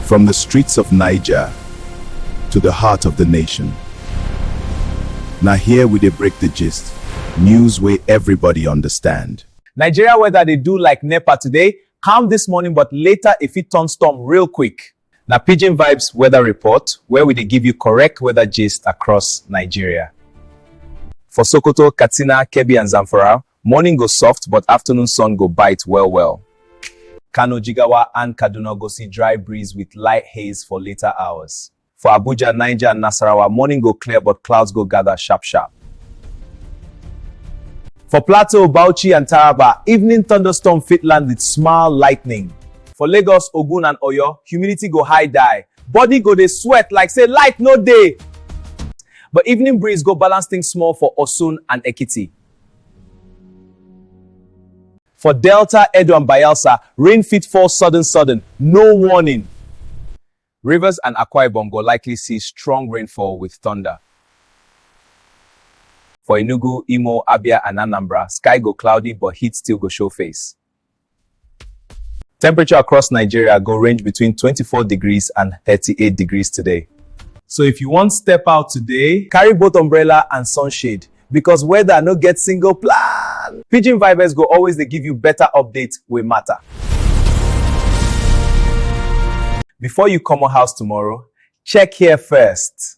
From the streets of Niger to the heart of the nation. Now here we dey break the gist, news wey everybody understand. Nigeria weather dey do like NEPA today, calm this morning but later e fit turn storm real quick. Na Pidgin Vibes weather report where we dey give you correct weather gist across Nigeria. For Sokoto, Katsina, Kebbi and Zamfara, Morning go soft, but afternoon sun go bite well well. Kano, Jigawa and Kaduna go see dry breeze with light haze for later hours. For Abuja, Niger and Nasarawa, morning go clear but clouds go gather sharp sharp. For Plateau, Bauchi and Taraba, evening thunderstorm fit land with small lightning. For Lagos, Ogun and Oyo, humidity go high die. Body go dey sweat like say light no dey. But evening breeze go balance things small for Osun and Ekiti. For Delta, Edo and Bayelsa, rain fit fall sudden sudden, no warning. Rivers and Akwa Ibom go likely see strong rainfall with thunder. For Enugu, Imo, Abia and Anambra, sky go cloudy but heat still go show face. Temperature across Nigeria go range between 24 degrees and 38 degrees today. So if you wan step out today, carry both umbrella and sunshade because weather no get single plan. Pidgin Vibes go always dey give you better update wey matter. Before you comot house tomorrow, check here first.